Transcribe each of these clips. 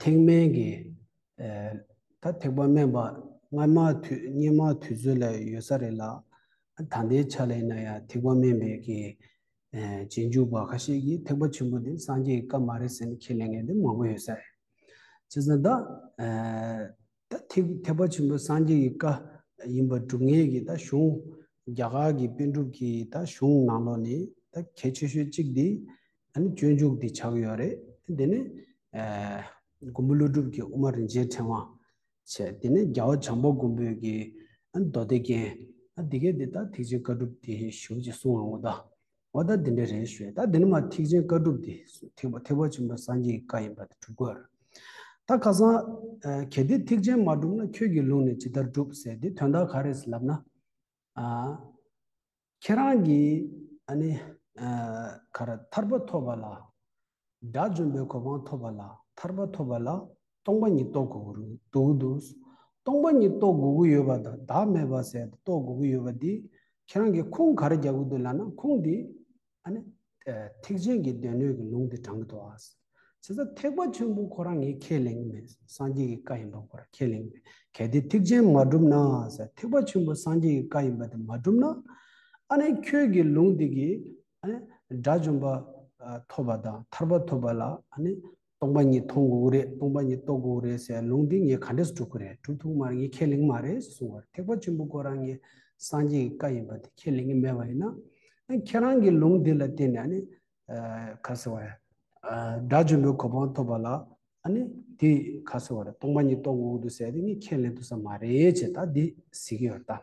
ཐེག་དམན་གྱི། ད་ཐེག་པ་དམན་པ་སྔ་མ་དུས་སྙེ་མ་དུས་ཚོད་ལ་ཡོད་ས་རེད་ལ། ད་ལྟའི་ཆ་ལ་ཡིན་ན་ཡང་ཐེག་པ་དམན་པའི་གི། རྗེས་འཇུག་པ་ཁ་ཤས་ཀྱིས་ཐེག་པ་ཆེན་པོ་འདི་སངས་རྒྱས་ཀྱི་བཀའ་མ་རེད་ཟེར་ནས་ཁས་ལེན་མཁན་འདི་མང་པོ་ཡོད་ས་རེད། བྱས་ཙང་ད། ད་ཐེག་གི་ཐེག་པ་ཆེན་པོ་སངས་རྒྱས་ཀྱི་བཀའ་ཡིན་པ་སྒྲུབ་ངེས་ཀྱི་ད་གཞུང། རྒྱ་གར་གྱི་དཔོན་གྲུབ་ཀྱི་ད་གཞུང་ནང་ལོགས་ནས་ད་གལ་ཆེ་ཤོས་གཅིག་འདི་ཨ་ནི་སྤྱོད་འཇུག་འདི་ཆགས་ཡོད་རེད་དེ་ནི། མགོན་པོ་ཀླུ་སྒྲུབ་ཀྱི་དབུ་མ་རིན་ཆེན་ཕྲེང་བ། བྱས་དེ་ནི་རྒྱལ་བ་བྱང་པོ་མགོན་པོས་ཀྱི་ཨ་ནི་མདོ་སྡེ་རྒྱན། ཨ་འདི་གའི་འདི་ད་ཐེག་ཆེན་བཀའ་སྒྲུབ་འདི་ཞུ་ཅེས་གསུང་ང་ངོ་ད། འོ་ད་འདི་འདྲ་རེད་ཞོས་ད་འདི་ནི་མ་ཐེག་ཆེན་བཀའ་སྒྲུབ་འདི་ཐེག་པ་ཐེག་པ་ཆེན་པོའི་སངས་རྒྱས་ཀྱི་བཀའ་ཡིན་པ་འདི་གྲུབ་དགོས། ད་ཁ་སང། གལ་ཏེ་ཐེག་ཆེན་མ་གྲུབ་ན་ཁྱོད་ཀྱི་ལུགས་ནས་ཇི་ལྟར་སྒྲུབ་ཟེར་དེ་དོན་དག་ག་རེད་ཟེར་ལབ་ན། ཁྱེད་རང་གིས་ཨ་ནི། ག་རེ་ཐར་པ་ཐོབ་པ་ལ། དགྲ་བཅོམ་པའི་གོ་འཕང་ཐོབ་པ་ལ་ཐར་པ་ཐོབ་པ་ལ་སྟོང་པ་ཉིད་རྟོགས་དགོས་ཀྱི་འདུག་དུས་སྟོང་པ་ཉིད་རྟོགས་དགོས་ཀྱི་ཡོད་པ་དང་བདག་མེད་པ་ཟད་དུ་རྟོགས་དགོས་ཀྱི་ཡོད་པ་འདི་ཁྱེད་རང་གིས་ཁུངས་ག་རེ་རྒྱག་གི་འདུག་ལབ་ན་ཁུངས་འདི་ཨ་ནི། ཐེག་ཆེན་གྱི་སྡེ་སྣོད་ཀྱི་ལུང་འདི་དྲང་གི་འདུག་ཨ། བྱས་ཙང་ཐེག་པ་ཆེན་པོ་ཁོ་རང་ངས་ཁས་ལེན་གྱི་མེད་སངས་རྒྱས་ཀྱི་བཀའ་ཡིན་པ་ཁོ་རང་ཁས་ལེན་གྱི་མེད་གལ་ཏེ་ཐེག་ཆེན་མ་གྲུབ་ན་ཟེར་ཐེག་པ་ཆེན་པོ་སངས་རྒྱས་ཀྱི་བཀའ་ཡིན་པ་དེ་མ་གྲུབ་ན་ཨ་ནི་ཁྱོད་ཀྱི་ལུང་འདི་གིས་དགྲ་བཅོམ་པ་ཐོབ་པ་དང་ཐར་པ་ཐོབ་པ་ལ་སྟོང་པ་ཉིད་མཐོང་དགོས་ཀྱི་རེད་སྟོང་པ་ཉིད་རྟོགས་དགོས་ཀྱི་རེད་ཟེར་ཡ་ལུང་འདི་ངས་ག་འདྲས་གྲུབ་ཀྱི་རེད་གྲུབ་ཐུབ་མ་རེད་ངས་ཁས་ལེན་མ་རེད་ཟེར་གསུང་བར་ཐེག་པ་ཆེན་པོ་ཀོ་རང་ངས་སངས་རྒྱས་ཀྱི་བཀའ་ཡིན་པ་དེ་ཁས་ལེན་གྱི་མེད་པ་ཡིན་ན་ཁྱེད་རང་གི་ལུང་འདི་ལ་བརྟེན་ནས་ནི་ག་ཟེར་བ་ཡ། དགྲ་བཅོམ་པའི་གོ་འཕང་ཐོབ་པ་ལ་དེ་ག་ཟེར་བ་རེད་སྟོང་པ་ཉིད་རྟོགས་དགོས་ཀྱི་རེད་ཟེར་ཡ་དེ་ངས་ཁས་ལེན་ཐུབ་ས་མ་རེད་ཅེས་ད་འདི་ཟེར་གྱི་ཡོད་དམ།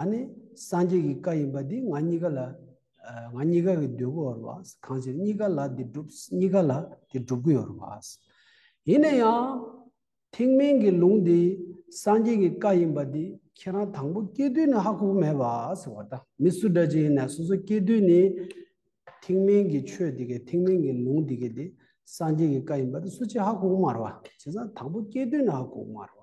ཨ་ནི་སངས་རྒྱས་ཀྱི་བཀའ་ཡིན་པ་འདི་ང་གཉིས་ཀ་ལ། ང་གཉིས་ཀ་གི་འདོད་དགུ་འོར་བ། གང་ཕྱིར་གཉིས་ཀ་ལ་འདི་བསྒྲུབ་གཉིས་ཀ་ལ་དེ་བསྒྲུབ་དགུ་འོར་བ། ཡིན་ན་ཡང། ཐེག་དམན་གྱི་ལུང་འདི་སངས་རྒྱས་ཀྱི་བཀའ་ཡིན་པ་འདི་ཁྱེད་རང་དང་པོ་སྐྱེས་དུས་ནས་ཧ་གོ་མེད་པ་ཟེར་བ་དང་མི་སུ་འདྲ་ཅིག་ཡིན་ན་སོ་སོ་སྐྱེས་དུས་ནས། ཐེག་དམན་གྱི་ཆོས་འདི་གའི་ཐེག་དམན་གྱི་ལུང་འདི་གའི་འདི་སངས་རྒྱས་ཀྱི་བཀའ་ཡིན་པ་འདི་སུ་གཅིག་ཧ་གོ་མར་བ། བྱས་ཙང་དང་པོ་སྐྱེས་དུས་ནས་ཧ་གོ་མར་བ།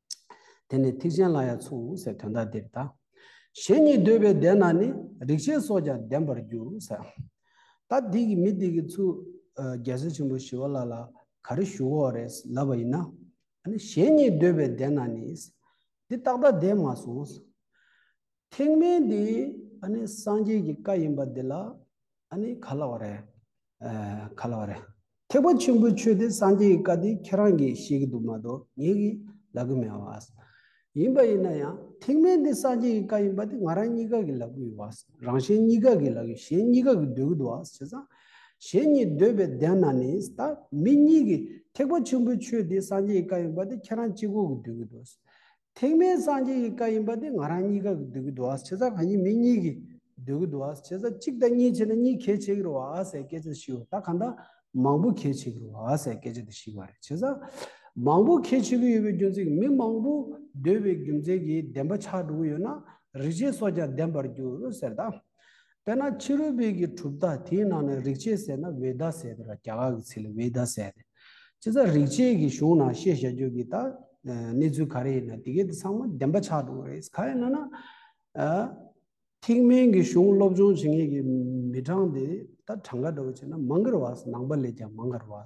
དེ་ནི་ཐེག་ཆེན་ལ་ཡང་མཚུངས་སའི་དོན་དག་འདིར་གདའ། གཞན་ཉིད་འདོད་པའི་སྡེ་ན་ནི་རིག་བྱེད་སོགས་ཀྱང་ལྡན་པར་འགྱུར། ད་འདི་གི་མི་འདི་གི་ཚུལ། རྒྱལ་སྲས་ཆེན་པོ་ཞི་བ་ལ་ལ་ག་རེ་ཞུ་འོ་རེས་ལབ་པ་ཡིན་ན། གཞན་ཉིད་འདོད་པའི་སྡེ་ན་ནི། འདི་རྟག་ད་དེས་མ་གསུངས། ཐེག་དམན་འདི་སངས་རྒྱས་ཀྱི་བཀའ་ཡིན་པ་འདི་ལ་ག་ལ་བ་རེད། ག་ལ་བ་རེད། ཐེག་པ་ཆེན་པོའི་ཆོས་དེ་སངས་རྒྱས་ཀྱི་བཀའ་འདི་ཁྱེད་རང་གིས་ཤེས་ཀྱི་འདུག་མ་གཏོགས་ངེད་ཀྱིས་ལབ་ཀྱི་མེད་བ། ཡིན་པ་ཡིན་ན་ཡང་ཐེག་དམན་འདི་སངས་རྒྱས་ཀྱི་བཀའ་ཡིན་པ་དེ་ང་རང་གཉིས་ཀ་གིས་ལབ་ཀྱི་ཡོད་བ། རང་གཞན་གཉིས་ཀ་གིས་ལབ་ཀྱི་གཞན་གཉིས་ཀ་གིས་འདོད་ཀྱི་འདུག་བ་བྱས་ཙང། གཞན་གཉིས་འདོད་པའི་གདན་ན་ནི་ད་མི་གཉིས་ཀྱིས་ཐེག་པ་ཆེན་པོའི་ཆོས་དེ་སངས་རྒྱས་ཀྱི་བཀའ་ཡིན་པ་དེ་ཁྱེད་རང་གཅིག་པོ་གིས་འདོད་ཀྱི་འདུག། ཐེག་དམན་སངས་རྒྱས་ཀྱི་བཀའ་ཡིན་པ་དེ་ང་རང་གཉིས་ཀ་གི་སྡུག་གི་དུ་བ་བྱེད་ས་གང་ཡིན་མི་གཉིས་ཀྱི་སྡུག་གི་དུ་བ་བྱེད་ས་གཅིག་དང་གཉིས་བྱས་ན་གཉིས་གལ་ཆེ་གི་རུ་བ་ཨ་ཟེར་སྐད་ཆ་ཞིག་ཡོད་ད་གང་ད་མང་པོ་གལ་ཆེ་གི་རུ་བ་ཨ་ཟེར་སྐད་ཆ་དེ་ཞིག་བ་རེད་བྱེད་ས་མང་པོ་གལ་ཆེ་གི་ཡོད་པའི་རྒྱུ་མཚན་མི་མང་པོ་སྡོད་པའི་རྒྱུ་མཚན་གྱིས་བདེན་པ་ཆགས་འགྲོ་གི་ཡོད་ན་རིག་བྱེད་སོགས་ཀྱང་བདེན་པར་འགྱུར་ཟེར་ད། དཔེར་ན་ཕྱི་རོལ་པའི་གི་གྲུབ་མཐའ་དེའི་ནང་ནས་རིག་བྱེད་ཟེར་ན་བའི་ཟླ་ཟེར་དེ་ར་རྒྱ་གར་གི་ཚིག་ལ་བའི་ཟླ་ཟེར་ཏེ། སྤྱིར་ཚ་རིག་བྱེད་ཀྱི་གཞུང་ནང་བཤད་བཞག་རྒྱུ་གི་ད་གནས་ཚུལ་ག་རེ་ཡིན་ན་དེ་གའི་དེ་ཚང་མ་བདེན་པ་ཆགས་འགྲོ་གི་རེད། ག་ཡིན་ན་ན། ཐེག་དམན་གྱི་གཞུང་སློབ་སྦྱོང་བྱེད་མཁན་གྱི་མི་གྲངས་དེ་ད་གྲངས་ཀ་འདྲ་བོ་བྱས་ན་མང་གི་རུ་བ་ནང་པ་ལས་ཀྱང་མང་གི་རུ་བ།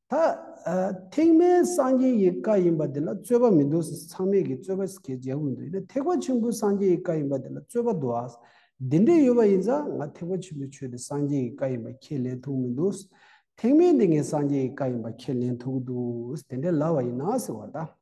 ད་ཐེག་དམན་སངས་རྒྱས་ཀྱི་བཀའ་ཡིན་པ་དེ་ལ་རྩོད་པ་མི་འདུག་ཚང་མས་ཀྱི་རྩོད་པ་ཞིག་གེ་མཇལ་དགོས་འདུག་ཡིན་ན་ཐེག་པ་ཆེན་པོ་སངས་རྒྱས་ཀྱི་བཀའ་ཡིན་པ་དེ་ལ་རྩོད་པ་འདུག་ཨ། དེ་འདྲས་ཡོད་པ་ཡིན་ཙང་ང་ཐེག་པ་ཆེན་པོའི་ཆོས་དེ་སངས་རྒྱས་ཀྱི་བཀའ་ཡིན་པ་ཁས་ལེན་ཐུག་མི་འདུག་ཐེག་དམན་དེ་ངས་སངས་རྒྱས་ཀྱི་བཀའ་ཡིན་པ་ཁས་ལེན་ཐུག་གི་འདུག་དེ་འདྲས་ལབ་བ་ཡིན་ན་ཟེར་བ་དང།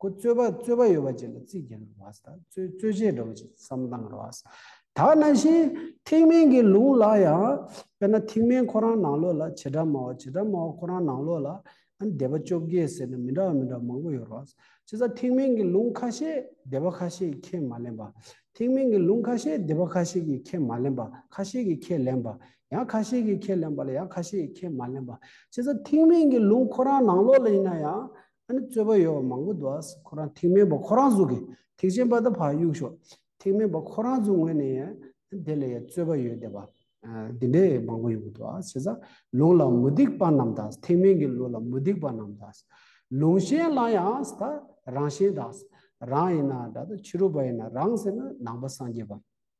ཀུ་རྩོད་པ་རྩོད་པ་ཡོད་པ་བཅས་ལ་རྩིས་བརྒྱན་རུང་བ་དང་རྩོད་རྩོད་བྱེད་འགྲོ་བ་བཅས་བསམ་བཏང་རུང་བ། ད་ན་བཞིན་ཐེག་དམན་གྱི་ལུང་ལ་ཡང། དཔེར་ན་ཐེག་དམན་ཁོ་རང་ནང་ལོགས་ལ་བྱེ་བྲག་སྨྲ་བ་བྱེ་བྲག་སྨྲ་བ་ཁོ་རང་ནང་ལོགས་ལ་སྡེ་པ་བཅོ་བརྒྱད་ཟེར་ན་མི་འདྲ་བ་མི་འདྲ་བ་མང་པོ་ཡོད་རུང་བ། ཅི་ཟ་ཐེག་དམན་གྱི་ལུང་ཁ་ཤས་སྡེ་པ་ཁ་ཤས་ཀྱིས་ཁས་མ་ལེན་པ། ཐེག་དམན་གྱི་ལུང་ཁ་ཤས་སྡེ་པ་ཁ་ཤས་ཀྱིས་ཁས་མ་ལེན་པ་ཁ་ཤས་ཀྱིས་ཁས་ལེན་པ། ཡང་ཁ་ཤས་ཀྱིས་ཁས་ལེན་པ་ལ་ཡང་ཁ་ཤས་ཀྱིས་ཁས་མ་ལེན་པ། ཅི་ཟ་ཐེག་དམན་གྱི་ལུང་ཁོ་རང་ནང་ལོགས་ལ་ཡིན་ན་ཡང་ཨ་ནི་རྩོད་པ་ཡོད་པ་མང་པོ་འདུག་ཨ་ཁོ་རང་ཐེག་དམན་པ་ཁོ་རང་གཟུགས་ཀྱི་ཐེག་ཆེན་པ་ད་བར་གཡུག་ཞོག་ཐེག་དམན་པ་ཁོ་རང་གཟུགས་ངོས་ནས་ཡང་དེ་ལ་ཡང་རྩོད་པ་ཡོད་བསྡད་པ་འདི་འདྲའི་མང་པོ་ཡོད་གི་འདུག་ཨ་བྱས་ཙང་ལུང་ལ་མུ་སྟེགས་པ་རྣམས་དང་ཐེག་དམན་གྱི་ལུགས་ལ་མུ་སྟེགས་པ་རྣམས་དང་ལུང་གཞན་བླང་ཡང་ད་རང་གཞན་དང་རང་ཡིན་ན་འདྲ་ད་ཕྱི་རོལ་པ་ཡིན་ན་རང་ཟེར་ན་ནང་པ་སངས་རྒྱས་པ།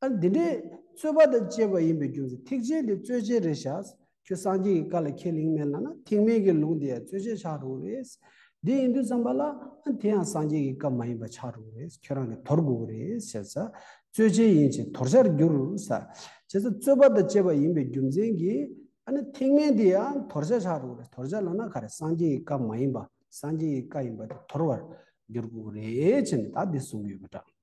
ཨ་འདི་འདྲས་རྩོད་པ་དང་བཅས་པ་ཡིན་པའི་རྒྱུ་མཚན་ཐེག་ཆེན་དེ་རྩོད་བྱེད་རེད་བྱ། ཁྱོད་སངས་རྒྱས་ཀྱི་བཀའ་ལ་ཁས་ལེན་མེད་ལ་ན་ཐེག་དམན་གྱི་ལུགས་འདི་ཡང་རྩོད་བྱེད་ཆགས་འགྲོ་གི་རེད། འདི་ཡིན་དུས་བརྩམས་པ་ལ་ཨ་དེ་ཡང་སངས་རྒྱས་ཀྱི་བཀའ་མ་ཡིན་པ་ཆགས་འགྲོ་གི་རེད་ཁྱོད་རང་གིས་དོར་དགོས་ཀྱི་རེད་བྱས། རྩོད་བྱེད་ཡིན་ཕྱིན་དོར་བྱར་འགྱུར། བྱས། རྩོད་པ་དང་བཅས་པ་ཡིན་པའི་རྒྱུ་མཚན་གྱིས་ཨ་ན་ཐེག་དམན་དེ་ཡང་དོར་བྱ་ཆགས་འགྲོ་གི་རེད་དོར་བྱ་ལ་ན་ག་རེ་སངས་རྒྱས་ཀྱི་བཀའ་མ་ཡིན་པ་སངས་རྒྱས་ཀྱི་བཀའ་ཡིན་པ་དེ་དོར་བར་འགྱུར་དགོས་ཀྱི་རེད་ཅེས་ནས་དག་འདི་གསུངས་ཡོད་པ་འདྲ།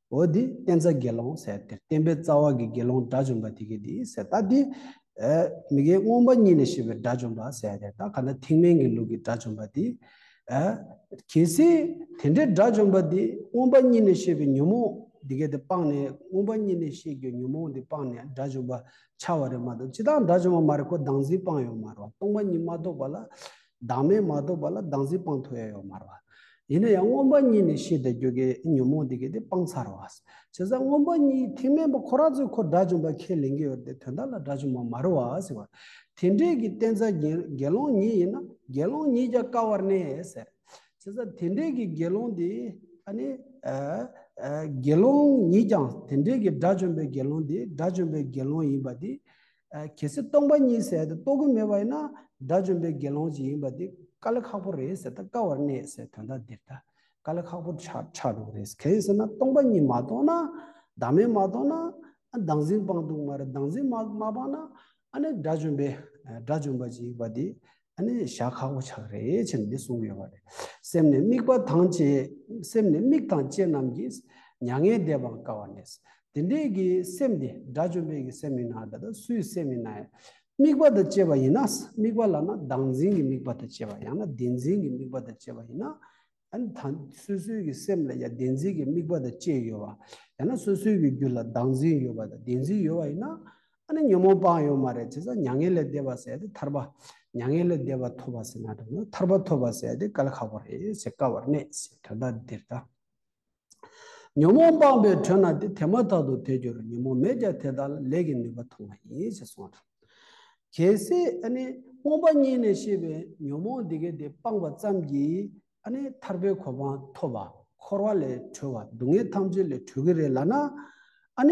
འོ་དེ་བསྟན་རྩ་དགེ་སློང་ཟེར་དེར་བསྟན་པའི་རྩ་བ་གི་དགེ་སློང་དགྲ་བཅོམ་པ་དེ་གི་དེ་ཟེར་ད་དེ། མི་དགེ་སྔོན་པ་གཉིས་ལས་བཤད་པའི་དགྲ་བཅོམ་པ་ཟེར་དེར་ད་ག་ན་ཐེག་དམན་གྱི་ལུགས་ཀྱི་དགྲ་བཅོམ་པ་དེ། གལ་སྲིད་དེ་འདྲའི་དགྲ་བཅོམ་པ་དེ་སྔོན་པ་གཉིས་ལས་བཤད་པའི་ཉོན་མོངས་དེ་གའི་དེ་སྤངས་ནས་སྔོན་པ་གཉིས་ལས་བཤད་རྒྱུའི་ཉོན་མོངས་དེ་སྤངས་ནས་དགྲ་བཅོམ་པ་འཆར་བ་རེད་མ་གཏོགས་ཅི་ལྟར་དགྲ་བཅོམ་པ་མ་རེད་ཁོ་སྡང་འཛིན་སྤངས་ཡོད་མ་རེད་བ་སྟོང་པ་ཉིད་མ་རྟོགས་པ་ལ་བདག་མེད་མ་རྟོགས་པ་ལ་བདག་འཛིན་སྤངས་ཐུབ་ཡ་ཡོད་མ་རེད། ཡིན་ན་ཡང་སྔོན་པ་གཉིས་ནས་ཤེས་བསྡད་རྒྱུ་གི་ཉོན་མོངས་དེ་གས་དེ་སྤངས་ཚར་བ། བྱས་ཙང་སྔོན་པ་གཉིས་ཐེག་དམན་པ་ཁོ་རང་ཚོས་ཁོ་དགྲ་བཅོམ་པ་ཁས་ལེན་གི་ཡོད་དེ་དོན་དག་ལ་དགྲ་བཅོམ་པ་མ་རེད་བ་ཟེར་བ། དེ་འདྲས་ཀྱི་བསྟན་རྩ་དགེ་སློང་ཉིད་ཡིན་ན་དགེ་སློང་ཉིད་རྒྱག་དཀའ་བར་གནས་ཟེར། བྱས་ཙང་དེ་འདྲས་ཀྱི་དགེ་སློང་དེ་ཨ་ནི། དགེ་སློང་ཉིད་ཀྱང་དེ་འདྲས་ཀྱི་དགྲ་བཅོམ་པའི་དགེ་སློང་དེ་དགྲ་བཅོམ་པའི་དགེ་སློང་ཡིན་པ་དེ། གལ་སྲིད་སྟོང་པ་ཉིད་ཟད་དུ་རྟོགས་ཀྱི་མེད་པ་ཡིན་ན་དགྲ་བཅོམ་པའི་དགེ་སློང་ཅིག་ཡིན་པ་འདི་དཀའ་ལས་ཁག་པོ་རེད་ཟེར་ད་དཀའ་བར་གནས་ཟེར་དོན་དག་འདིར་ད་དཀའ་ལས་ཁག་པོ་ཆགས་འདུག་རེད་གལ་ཡིན་ཟེར་ན་སྟོང་པ་ཉིད་མ་རྟོགས་ན་བདག་མེད་མ་རྟོགས་ན་བདག་འཛིན་སྤངས་འདུག་མ་རེད་བདག་འཛིན་མ་སྤངས་ན་ཨ་ནི་དགྲ་བཅོམ་པའི་དགྲ་བཅོམ་པ་ཅིག་ཡིན་པ་འདི་ཨ་ནི་བཞག་ཁག་པོ་ཆགས་རེད་ཅེས་ནི་གསུངས་ཡོད་པ་རེད། སེམས་ནི་དམིགས་པ་དང་བཅས་སེམས་ནི་དམིགས་དང་བཅས་རྣམས་ཀྱིས་མྱ་ངན་འདས་པར་དཀའ་བ་ནས། དེ་འདྲའི་གི་སེམས་དེ་དགྲ་བཅོམ་པའི་གི་སེམས་ཡིན་ན་ད་ལྟ་སུའི་སེམས་ཡིན་ན་ཡང། དམིགས་པ་དང་བཅས་པ་ཡིན་ན་དམིགས་པ་ལ་ན་བདག་འཛིན་གྱི་དམིགས་པ་དང་བཅས་པ་ཡང་ན་བདེན་འཛིན་གྱི་དམིགས་པ་དང་བཅས་པ་ཡིན་ན། ཡང་ན་སོ་སོའི་གི་སེམས་ལ་ཡང་བདེན་འཛིན་གྱི་དམིགས་པ་དང་བཅས་ཡོད་པ། ཡང་ན་སོ་སོའི་གི་རྒྱུད་ལ་བདག་འཛིན་ཡོད་པ་དང་བདེན་འཛིན་ཡོད་པ་ཡིན་ན། ཨ་ནི་ཉོན་མོངས་སྤངས་ཡོད་མ་རེད་ཅེས་ན་མྱ་ངན་ལས་འདས་པ་ཟེར་ཏེ་ཐར་པ། མྱ་ངན་ལས་འདས་པ་ཐོབ་པ་ཟེར་ན་ཐར་པ་ཐོབ་པ་ཟེར་ཏེ་བཀའ་ལ་ཁག་པ་རེད་ཟེར་དཀའ་བར་གནས་ཟེར་དོན་དག་འདིར་གདའ། ཉོན་མོངས་སྤངས་པའི་དྲོད་ན་དེ་དེ་མ་ཐག་ཏུ་དལ་འགྱུར་རོ་ཉོན་མོངས་མེད་ཀྱང་དེ་དག་ལ་ལས་ཀྱི་ནུས་པ་ཐོབ་ན་ཡིན་ཞེས་གསུངས་སོ། གལ་སྲིད་རྨོངས་པ་གཉིས་ནས་ཤེས་པའི་ཉོན་མོངས་འདི་གའི་དེ་སྤངས་པ་ཙམ་གྱིས་ཐར་པའི་གོ་འཕང་ཐོབ་པ་འཁོར་བ་ལས་གྲོལ་བ་སྡུག་བསྔལ་ཐམས་ཅད་ལས་གྲོལ་གྱི་རེད་ལགས་ན།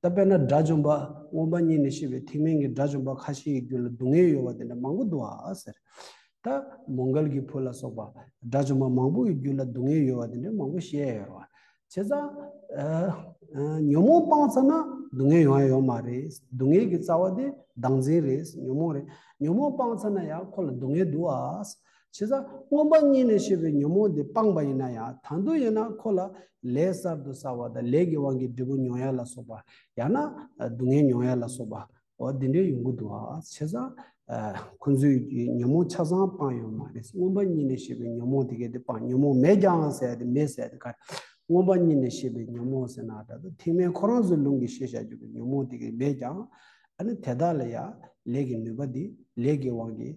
ད་དཔེར་ན་དགྲ་བཅོམ་པ་སྔོན་པ་གཉིས་ནས་ཤེས་པའི་ཐེག་དམན་གྱི་དགྲ་བཅོམ་པ་ཁ་ཤས་ཡི་རྒྱུད་ལ་སྡུག་བསྔལ་ཡོད་པ་དེ་འདྲ་མང་པོ་འདུག་ཨ་ཟེར། ད་མོ་མགལ་གྱི་བུ་ལ་སོགས་པ་དགྲ་བཅོམ་པ་མང་པོ་ཡི་རྒྱུད་ལ་སྡུག་བསྔལ་ཡོད་པ་དེ་འདྲ་མང་པོ་བཤད་ཡོད་རེད། བྱས་ཙང། ཉོན་མོངས་སྤངས་ཚར་ན་སྡུག་བསྔལ་ཡོང་ཡ་ཡོད་མ་རེད། སྡུག་བསྔལ་གྱི་རྩ་བ་དེ་བདག་འཛིན་རེད། ཉོན་མོངས་རེད། ཉོན་མོངས་སྤངས་ཚར་ན་ཡང་ཁོ་ལ་སྡུག་བསྔལ་འདུག་ཨ། བྱས་ཙང་སྔོན་པ་གཉིས་ནས་བྱས་པའི་ཉོན་མོངས་དེ་སྤངས་པ་ཡིན་ན་ཡང་དང་དུ་ཡིན་ན་ཁོ་ལ་ལས་གསར་དུ་བསགས་པ་དང་ལས་ཀྱི་དབང་གིས་འབྲས་བུ་མྱོང་ཡ་ལ་སོགས་པ་ཡང་ན་སྡུག་བསྔལ་མྱོང་ཡ་ལ་སོགས་པའོ། འདི་འདྲའི་ཡོང་གི་འདུག་ཨ། བྱས་ཙང། ཁོ་ཚོས་ཉོན་མོངས་ཆ་ཚང་སྤངས་ཡོད་མ་རེད་སྔོན་པ་གཉིས་ནས་བྱས་པའི་ཉོན་མོངས་དེ་གལ་ཏེ་སྤངས་ཉོན་མོངས་མེད་ཀྱང་ཟེར་ཡ་དེ་མེད་ཟེར་ཡ་དེ་ག་རེད། སྔོན་པ་གཉིས་ནས་བྱས་པའི་ཉོན་མོངས་ཟེར་ན་དྲ་ཐོག་ཐེངས་མའི་ཁོ་རང་ཚོའི་ལུང་གིས་བཤད་བྱ་རྒྱུ་གི་ཉོན་མོངས་དེ་གས་མེད་ཀྱང། ཨ་ནི་དེ་དག་ལ་ཡང་ལས་ཀྱི་ནུས་པ་དེ་ལས་ཀྱི་དབང་གིས་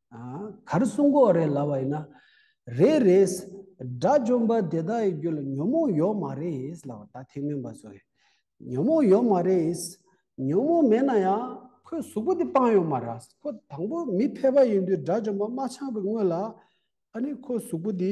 གར་གསུང་གོ་རེ་ལབ་པ་ཡིན་ན་རེད་རེད། དགྲ་བཅོམ་པ་དེ་དག་ཡི་རྒྱུད་ལ་ཉོན་མོངས་ཡོད་མ་རེད་ལབ་པ་ད་ཐེངས་མིན་པ་བཟོ། ཉོན་མོངས་ཡོད་མ་རེད། ཉོན་མོངས་མེད་ན་ཡང་ཁོའི་གཟུགས་པོ་དེ་སྤངས་ཡོད་མ་རེད། ཁོ་དང་པོ་མི་ཕལ་པ་ཡིན་དུས་དགྲ་བཅོམ་པ་དམར་ཆག་པའི་སྔོན་ལ་ཨ་ནི་ཁོའི་གཟུགས་པོ་དེ།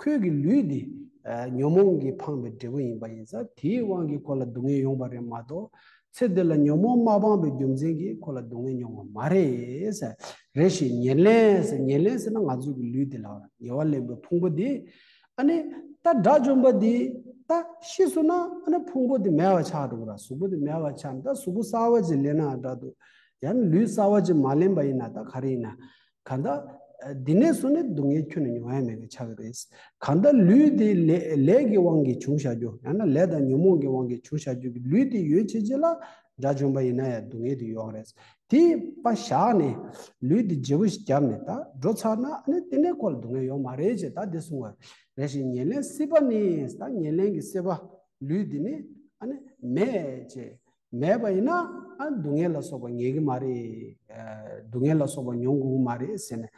ཁོས་ཀྱི་ལུས་འདི་ཉོན་མོངས་ཀྱིས་འཕངས་པའི་འབྲས་བུ་ཡིན་པ་ཡིན་ས་དེའི་དབང་གིས་ཁོ་ལ་སྡུག་བསྔལ་ཡོང་བ་རེད་མ་གཏོགས་ཚེ་འདི་ལ་ཉོན་མོངས་མ་སྤངས་པའི་རྒྱུ་མཚན་གྱིས་ཁོ་ལ་སྡུག་བསྔལ་མྱོང་བ་མ་རེད། རེ་ཞིག་ཉེར་ལེན། ཉེར་ལེན་ཟེར་ན་ང་ཚོས་ཀྱི་ལུས་འདི་ལ་ཉེ་བར་ལེན་པའི་ཕུང་པོ་འདི། ཨ་ནི། ད་དགྲ་བཅོམ་པ་འདི། ད་ཤི་སོང་ན་ཨ་ནི་ཕུང་པོ་འདི་མེད་བར་ཆགས་འགྲོ་གི་ར་གཟུགས་པོ་འདི་མེད་བར་ཆགས་ནས་ད་གཟུགས་པོ་གསར་བ་ཅིག་ལེན་ནའང་འདྲ་འདུག་ཡང་ན་ལུས་གསར་བ་ཅིག་མ་ལེན་པ་ཡིན་ན་ད་ག་རེ་ཡིན་ན། གང་དག། འདི་ནས་སུ་ནི་སྡུག་བསྔལ་ཁྱོད་ནི་མྱོང་ཡ་མེད་པའི་ཆ་གི་རེས། གང་དག་ལུས་དེ་ལས་ཀྱི་དབང་གིས་བྱུང་བྱ་རྒྱུ་ཡང་ན་ལས་དང་ཉོན་མོངས་ཀྱི་དབང་གིས་བྱུང་བྱ་རྒྱུ་གི་ལུས་དེ་ཡོད་བྱེད་ཅི་ལ་དགྲ་བྱོན་པ་ཡིན་ན་ཡང་སྡུག་བསྔལ་དེ་ཡོད་དབང་རེས། དེས་པ་བཞག་ནས། ལུས་དེ་རྗེ་བོ་ཞིག་བརྒྱབ་ནས་ད་འགྲོ་ཚར་ན་ནི་དེ་ནས་ཁོ་ལ་སྡུག་བསྔལ་ཡོད་མ་རེད་ཅེས་ད་དེ་གསུང་བ་རེ་ཞིག་ཉེར་ལེན་སྲིད་པ་ནི་ད་ཉེར་ལེན་གྱི་སྲིད་པ་ལུས་འདི་ནི་ཨ་ནི་མེད་ཅེས། མེད་པ་ཡིན་ན་ཨ་སྡུག་བསྔལ་ལ་སོགས་པ་ངེས་ཀྱི་མ་རེད། སྡུག་བསྔལ་ལ་སོགས་པ་མྱོང་དགོས་ཀྱི་མ་རེད་ཟེར་ནས།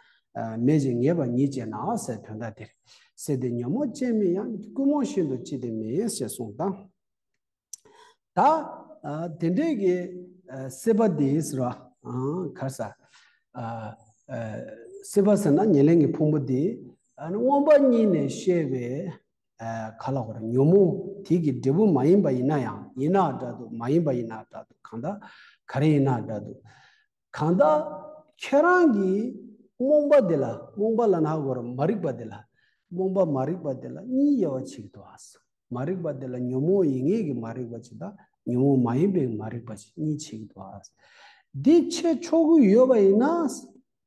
མེད་ཅིང་ངེས་པ་ཉིད་ཅེ་ན་སའི་དོན་དག་འདིར། སེལ་ཏེ་ཉོན་མོངས་ཅན་མིན་ཡང་ཀུན་རྨོངས་ཤིན་ཏུ་ལྕི་སྟེ་མིན་ཞེས་གསུངས་དང། ད། དེ་འདྲའི་གི། སྲེད་པ་འདིའི་ཟེར་བ། གར་ཟ། སྲེད་པ་ཟེར་ན་ཉེར་ལེན་གྱི་ཕུང་པོ་འདི། དབང་པོ་གཉིས་ནས་བཤད་པའི། ག་ལ་བར་ཉོན་མོངས་དེ་གི་འབྲས་བུ་མ་ཡིན་པ་ཡིན་ན་ཡང་ཡིན་ན་སྒྲ་དུ་མ་ཡིན་པ་ཡིན་ན་སྒྲ་དུ་གང་དག་ག་རེ་ཡིན་ན་སྒྲ་དུ་གང་དག་ཁྱོད་རང་གིས་རྨོངས་པ་དེ་ལ་རྨོངས་པ་ལ་ན་བར་མ་རིག་པ་དེ་ལ་རྨོངས་པ་མ་རིག་པ་དེ་ལ་གཉིས་དབྱེ་བ་ཇི་སྟེ་བ་སོ་མ་རིག་པ་དེ་ལ་ཉོན་མོངས་ཡིན་ངེས་ཀྱི་མ་རིག་པ་ཇི་དང་ཉོན་མོངས་མ་ཡིན་པའི་མ་རིག་པ་ཇི་གཉིས་ཆིག་སྟེ་བ་སོ། འདི་ཕྱེད་ཕྱོགས་ཀུན་ཡོད་པ་ཡིན་ན།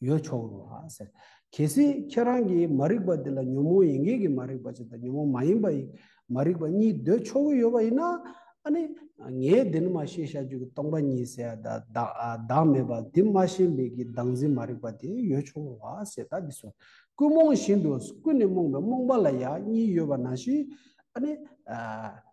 ཡོད་ཆོག་རོ་ལགས་ཟེར། གལ་སྲིད་ཁྱེད་རང་གིས་མ་རིག་པ་འདི་ལ་ཉོན་མོངས་ཡིན་མཁན་གྱི་མ་རིག་པ་ཅིག་དང་ཉོན་མོངས་མ་ཡིན་པའི་མ་རིག་པ་གཉིས་འདོད་ཆོག་གི་ཡོད་པ་ཡིན་ན། ཨ་ནི། ངས་འདི་ནི་མ་ཤེས་བྱ་རྒྱུད་ཀྱི་སྟོང་པ་ཉིད་ཟེར་ཡ་ད། བདག་མེད་པར་དེ་མ་ཤེས་མེད་ཀྱི་བདག་འཛིན་མ་རིག་པ་དེ་ཡོད་ཆོག་རོ་ལགས་ཟེར་ད་འདི་སོ། ཀུན་རྨོངས་བཞིན་དུ་ཀུན་ནས་རྨོངས་པའི་རྨོངས་པ་ལ་ཡང་གཉིས་ཡོད་པ་ནང་བཞིན། ཨ་ནི།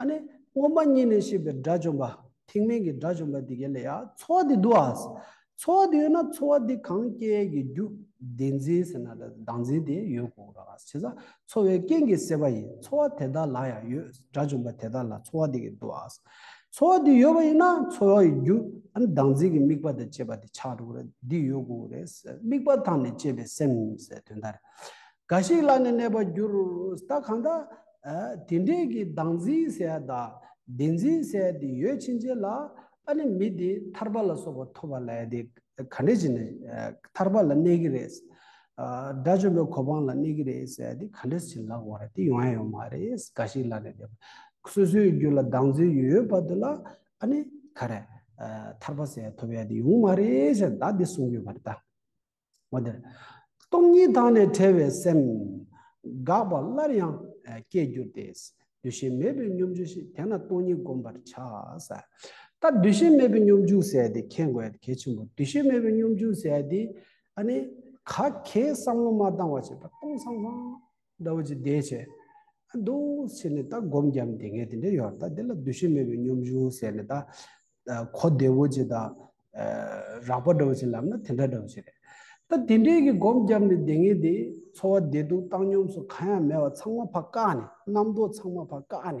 ཨ་ནི། སྔོན་མ་གཉིས་ནས་ཤེས་པའི་དགྲ་བཅོམ་པ། ཐེག་དམན་གྱི་དགྲ་བཅོམ་པ་དེ་ག་ལས་ཡ། འཚོ་བ་དེ་འདུག་ཨ། འཚོ་བ་དེ་ཡོད་ན་འཚོ་བ་དེ་གང་སྐྱེ་གི་རྒྱུ། བདེན་འཛིན་ཟེར་ན་དག་འཛིན་དེ་ཡོད་དགོས་ར། བྱས་ཙང་འཚོ་བའི་རྐྱེན་གྱིས་སད་པ་ཡིན། འཚོ་བ་དེ་དག་ལ་ཡང་ཡོད། དགྲ་བཅོམ་པ་དེ་དག་ལ་འཚོ་བ་དེ་ག་འདུག་ཨ། འཚོ་བ་དེ་ཡོད་པ་ཡིན་ན་འཚོ་བ་ཡི་རྒྱུ། ཨ་ནི་བདག་འཛིན་གྱི་དམིགས་པ་དང་བཅས་པ་དེ་ཆགས་འགྲོ་གི་ར། འདི་ཡོད་དགོས་ར། དམིགས་པ་དང་ནི་བཅས་པའི་སེམས། དོན་དག་རེད། འགའ་ཞིག་ལ་ནི་གནས་པར་འགྱུར། ད་གང་དག། དེ་འདྲས་ཀྱི་བདག་འཛིན་སའི་བདག། བདེན་འཛིན་སའི་དེ་ཡོད་ཕྱིན་ཅི་ལ། ཨ་ནི་མི་དེ་ཐར་པ་ལ་སོགས་པ་ཐོབ་པ་ལ་ཡང་དེ་ག་འདྲས་བྱས་ནས་ཐར་པ་ལ་གནས་ཀྱི་རེད། དགྲ་བཅོམ་པའི་གོ་འཕང་ལ་གནས་ཀྱི་རེད་སའི་དེ་ག་འདྲས་བྱས་ལགས་བར་དེ་ཡོང་ཡང་ཡོང་མ་རེད་འགའ་ཞིག་ལ་ནི་དེ། སོ་སོའི་རྒྱུ་ལ་བདག་འཛིན་ཡོད་ཡོད་བར་དུ་ལ་ཨ་ནི་ག་རེ། ཐར་པ་སའི་ཐོབ་ཡང་དེ་ཡོང་མ་རེད་ཅེས་བདག་འདི་གསུངས་ཡོད་པར་གདའ། སྟོང་ཉིད་དང་ནི་བྲལ་བའི་སེམས། འགགས་པ་སླར་ཡང་སྐྱེས་གྱུར་ཏེ། འདུ་ཤེས་མེད་པའི་སྙོམས་འཇུག་ཞེས་དེ་ན་སྟོང་ཉིད་བསྒོམ་པར་བྱ། ད་འདུ་ཤེས་མེད་པའི་སྙོམས་འཇུག་ཟེར་ཏེ་མཁྱེན་དགོས་ཡ་གལ་ཆེན་པོ་འདུ་ཤེས་མེད་པའི་སྙོམས་འཇུག་ཟེར་ཏེ། ག་གེའི་བསམ་བློ་མ་བཏང་བ་བྱས་པ་སྟོང་སང་སང། ཟླ་བ་གཅིག་འདས་བྱས། རྡོ་ཕྱེ་ནས་ད་སྒོམ་བརྒྱབ་དེ་ངས་དེ་འདྲ་ཡོད་ད་དེ་ལ་འདུ་ཤེས་མེད་པའི་སྙོམས་འཇུག་ཟེར་ནས་ད་གོ་བདེ་བོ་ཅིག་ད་རགས་པ་འདྲ་བོ་ཅིག་ལབ་ན་དེ་འདྲ་འདྲ་བོ་ཅིག་རེད། ད་དེ་འདྲས་ཀྱི་སྒོམ་བརྒྱབ་ནས་དེ་ངས་དེ་འཚོ་བ་བདེ་སྡུག་བཏང་སྙོམས་སུ་གང་ཡང་མེད་བ་ཚང་མ་ཕ་བཀག་ནས་རྣམ་རྟོག་ཚང་མ་ཕ་བཀག་ནས།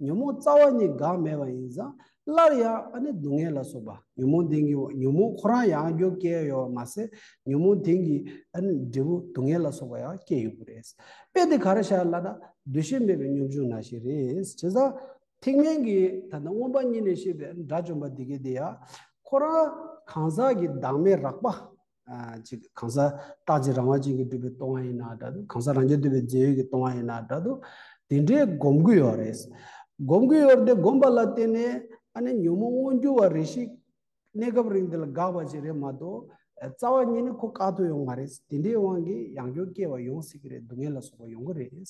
ཉོན་མོངས་རྩ་བ་ཉིད་འགགས་མེད་པ་ཡིན་ཙང་སླར་ཡང་ཨ་ནི་སྡུག་བསྔལ་ལ་སོགས་པ་ཉོན་མོངས་ལྡན་གྱི་ཉོན་མོངས་ཁོ་རང་ཡང་རྒྱུ་སྐྱེ་ཡོད་པར་མ་ཟད་ཉོན་མོངས་ལྡན་གྱི་ཨ་ནི་འབྲས་བུ་སྡུག་བསྔལ་ལ་སོགས་པ་ཡང་སྐྱེ་ཡོད་པ་རེད། དཔེ་འདི་ག་རེ་བྱས་ལ་ན་འདུ་ཤེས་མེད་པའི་སྙོམས་འཇུག་ན་ཞིག་རེད། དེ་སང་ཐེག་དམན་གྱི་ད་ལྟ་མངོན་པ་གཉིས་ནས་བཤད་པའི་དགྲ་བཅོམ་པ་འདི་གའི་དེ་ཡང་ཁོ་རང་གང་ཟག་གི་བདག་མེད་རགས་པ། ཅིག་གང་ཟག་རྟག་ཅིང་རང་བ་ཅན་གྱིས་བསྒྲུབས་པའི་ལྟུང་བ་ཡིན་ན་འདྲ་དུ་གང་ཟག་རང་རྒྱལ་དུལ་བའི་རྗེས་ཡོད་ཀྱི་ལྟུང་བ་ཡིན་ན་འདྲ་དུ། དེ་འདྲའི་སྒོམ་གྱི་ཡོ་རེ། སྒོམ་གྱི་ཡོར་དེ་བསྒོམས་པ་ལ་བརྟེན་ནས་ཨ་ནི་ཉོན་མོངས་མངོན་གྱུར་བ་རེ་ཞིག་གནས་སྐབས་རིང་འདི་ལ་འགགས་པ་ཅིག་རེད་མ་གཏོགས། རྩ་བ་ཉིད་ནི་ཁོ་བཀག་ཐུབ་ཡོང་མ་རེད། དེ་འདྲའི་དབང་གིས་ཡང་སྐྱོ་སྐྱེ་བ་ཡོང་སྲིད་ཀྱི་རེད་སྡུག་བསྔལ་ལ་སོགས་པ་ཡོང་གི་རེད།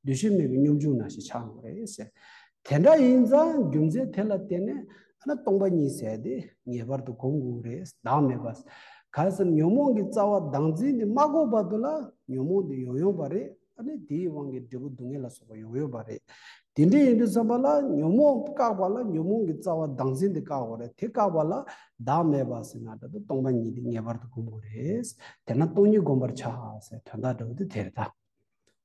འདུ་ཤེས་མེད་པའི་གཉོམ་ཆུང་ན་ཞིག་ཆགས་ཡོང་གི་རེད། དེ་འདྲ་ཡིན་ཙང་རྒྱུ་མཚན་དེ་ལ་བརྟེན་ནས། ཨ་ན་སྟོང་པ་ཉིད་ཟད་དེ་ངེས་པར་དུ་གོམས་དགོས་རེད་བདག་མེད་པ། གལ་སྲིད་ཉོན་མོངས་ཀྱི་རྩ་བ་བདག་འཛིན་འདི་མ་གོ་བར་དུ་ལ་ཉོན་མོངས་འདི་ཡོང་ཡོང་བ་རེད་ཨ་ནི་དེའི་དབང་གིས་འབྲས་བུ་སྡུག་བསྔལ་ལ་སོགས་པ་ཡོང་ཡོང་བ་རེད། དེ་འདྲས་ཡིན་དུས་བསམ་པ་ལ་ཉོན་མོངས་བཀག་པ་ལ་ཉོན་མོངས་ཀྱི་རྩ་བ་བདག་འཛིན་འདི་བཀག་དགོས་རེད་དེ་བཀག་པ་ལ་བདག་མེད་པ་ཟེར་ན་འདྲ་དུ་སྟོང་པ་ཉིད་འདི་ངེས་པར་དུ་གོམས་དགོས་རེད་དེ་ན་སྟོང་ཉིད་གོམས་པར་བྱ་ཟེར་དོན་དག་འདྲ་བོ་འདི་དེ་རེད་ད།